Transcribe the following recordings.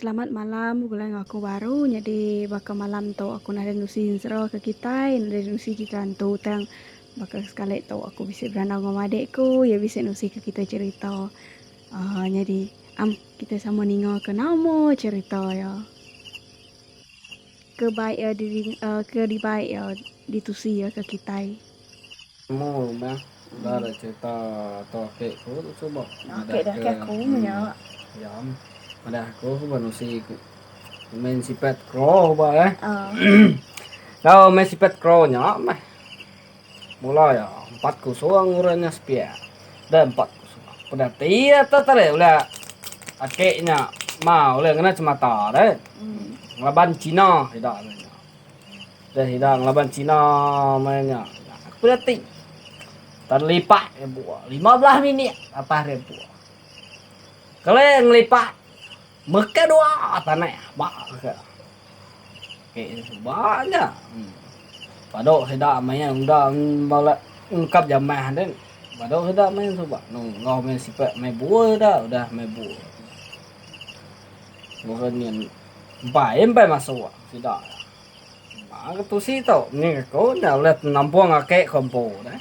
Selamat malam begulai enggau aku baru nyadi baka malam tu aku nadai nusi enzra ke kitai nadai nusi cerita antu tang baka sekali tu aku bisi berandau enggau madik aku iya bisi nusi ke kitai cerita aaa nyadi am kitai sama ninga ke nama cerita iya. Ke baik iya diring ke dibai iya ditusi iya ke kitai. Nemu meh udah da cerita tu ake ku tu suba madah ke diam madah aku suba nusi ku main sipat crow ba eh. Tau main sipat crow nya meh. Mula iya, empat kusung urang nya sepia. Deh empat kusung. Peda ti iya tu tadi ulih aki nya ma ulih ngena chemata deh. Ngelaban Cina ida meh nya. Deh ida ngelaban Cina meh nya. Peda ti. Tan lipat nya bua. Lima belah minit atas dia bua. Keleh ngelipat. Meka dua tanah ba ke. Ke ba aja. Padu sida main unda bala ungkap jamah den. Padu sida main suba nungau main sipak main bua sida udah main bua. Bukan nyen empai empai masuk sida. Ba ke tusi tu ni ko nya udah nampung ake kompo deh.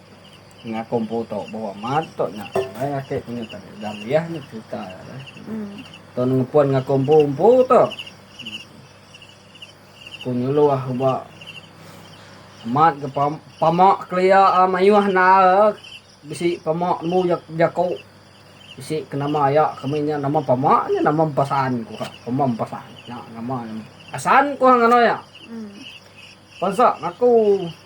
Ngah kompo to bawa mat to nya alai ake ku nya tadi daliah nya cerita nya alai. Hmm. To ngepon ngah kompo umpo to. Ku nyuluh ba mat ke pam, pamak kelia ah, mayuh nal ah, bisi pamak nemu jak, jako. Bisi ke nama aya kami nya nama pamak nya nama empasan ku ha. Pama empasan. Nya nama nya. Asan ku ha nganou nya. Hmm. Pasak ngaku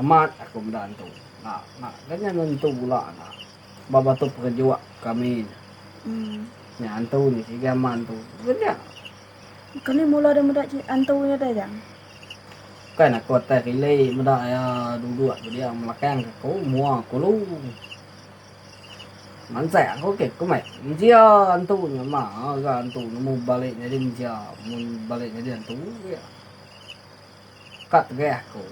Amat aku meda entu. Enda enda ganya nentu gula enda. Ba batu perejuk kami nya. Nya antu nya sigi ama entu. Ganya. Kami mula deh meda ci antu nya deh jang. Bukan aku atai rili meda iya duduk tu dia melakang ke aku mua kulu. Mansah aku ke ku meh. Mensia antu nya ma ga antu nemu balik nyadi mensia mun balik nyadi antu. Ka tegah aku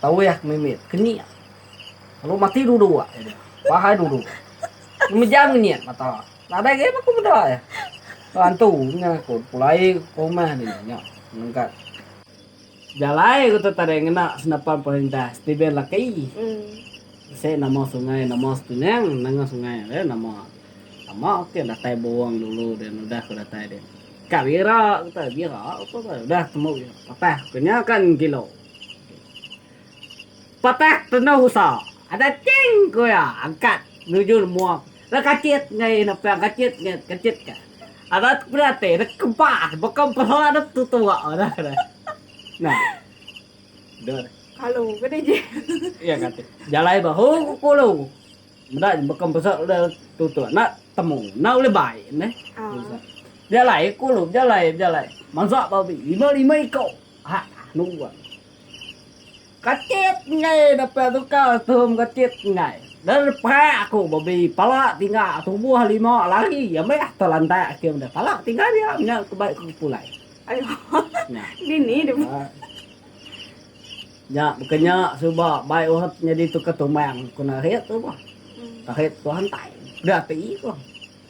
tauh ke mimit ke nyi. Lalu mati dulu dua iya dia. Bahai dulu. Ngemejam ke nyi mata. Nadai agi aku meda iya. Ba antu nya aku pulai ke rumah dia nya nenggat jalai ku tu tadi ngena senapan perintah Steven Lucky. Bisi nama sungai nama setunang nanga sungai dia nama. Nama ke datai burung dulu dia nudah ke datai dia. Ka bira kata bira apa ka udah temu bira patah ku nya ka ngilo. Patah tenau usa ada ching ku iya angkat nuju nemua da kachit ngai nepang kachit ngai kachit ka ada peda ati da kempa baka empera da tutu ba udah da. Nah. Dur. Kalu ke nih ji. Iya kati. Jalai bahu ku kulu. Meda je baka mesa ulih tuntut enda temu. Enda ulih bai neh. Bejalai ku lu bejalai bejalai. Mansa babi lima lima iko. Ha anu ga. Katit enggai dapet suka tuhum katit enggai. Dah perak aku babi pala tingga tubuh lima lari ambis telantak akim deh. Pala tingga dia nya ke bai ku pulai. Ayo. Nya. Dini deh. Nya baka nya suba bai Ohad nyadi tukar tumbang ku Narit tu bah. Narit tuah entai peda ati bah.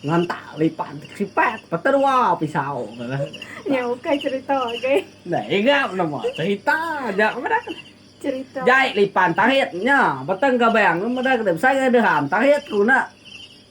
Ngantak lipan sipat peta dua pisau tu lah. Nya ukai cerita agei. Nah ega nama cerita nya meda ke. Cerita. Jai lipan Tarit nya beteng gabang meda ke besai deham Tarit ku enda.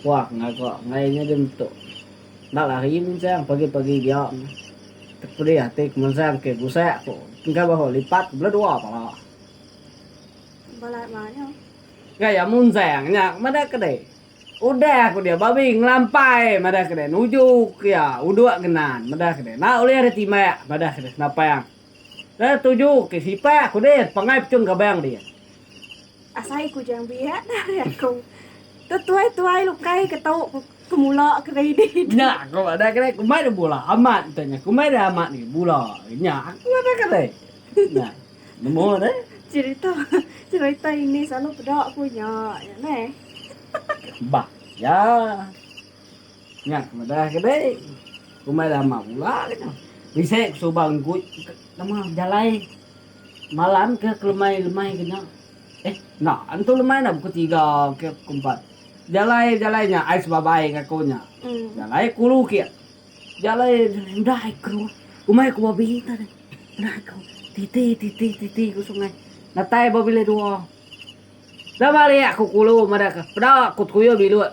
Puah ngaga ngai nya dia metuk. Enda lari Munsang pagi-pagi diam. Tepedih ati ke Munsang ke gusak ku engka bahu lipat bela dua pala. Bala ema nya. Gaya Munsang nya madah ke deh. Udah ku dia babi ngelampai madah ke deh nuju ke iya uduk genan madah ke deh enda ulih ditimbak madah ke deh Senapang. Ke tuju ke sipa ku din pangai pechung gabang din. Asai ku jang biak dah ari aku. Tu tuai tuai lukai ke tu ke mula ke ready tu. Nya aku madah ke deh ku mai dah bula amat ente nya ku mai dah amat agi bula nya aku madah ke deh. Nya nemu deh. Cerita cerita ini selalu peda ku nya nya neh. Bah ya. Nya ku Madah ke deh. Umai lama pula ke nya. Bisi ku suba engku nama bejalai malam ke kelemai lemai ke nya. Eh enda antu lemai enda pukul tiga ke pukul empat. Bejalai bejalai nya ai sebabai enggau aku nya. Bejalai ku ulu ke. Bejalai udah ai ke rumah. Umai ku babi enta deh. Udah ai ke titi titi titi ku sungai. Datai ba bilik dua. Dah mari aku ku ulu madah ke peda ku tuyul biluk.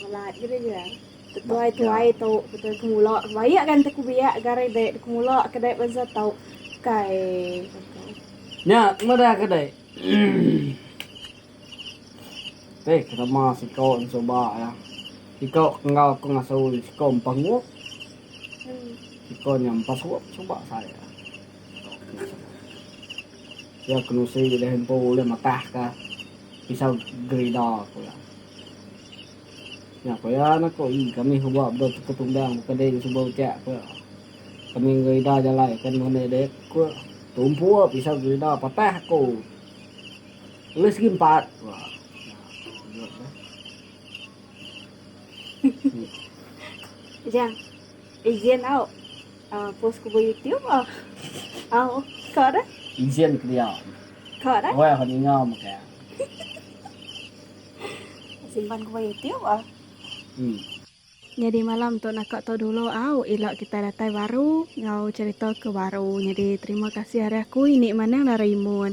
Melat gila iya. Tetuai tuai tu betul ke mula bayak kan teku biak gari dek teku mula ke dek bansa tu. Kai. Nya meda ke dek. Teh kerama siko suba ya. Siko kenggau aku ngasu siko empa nguk. Siko nya empa suap suba sai. Ya kenusi deh empu ulih matah ka. Pisau gerida ku iya. Nya ku iya anak aku, ii kami suba bedau teka tumbang buka diri suba ucak ku iya. Kami ngerida jalai ke nemu enda dek ku iya. Tumpu iya pisau gerida patah aku. Ulih segi empat ku iya. Ujang, izin au. Uh, post ku ba YouTube ah. Ah, uh, ka dah. Izin ke dia. Ka dah. Wah, ha ninga maka. Simpan ku ba YouTube ah. Hmm. Jadi malam tu nak tu dulu au ah, ila kita datai baru ngau cerita ke baru. Jadi terima kasih hari aku ini manang dari imun.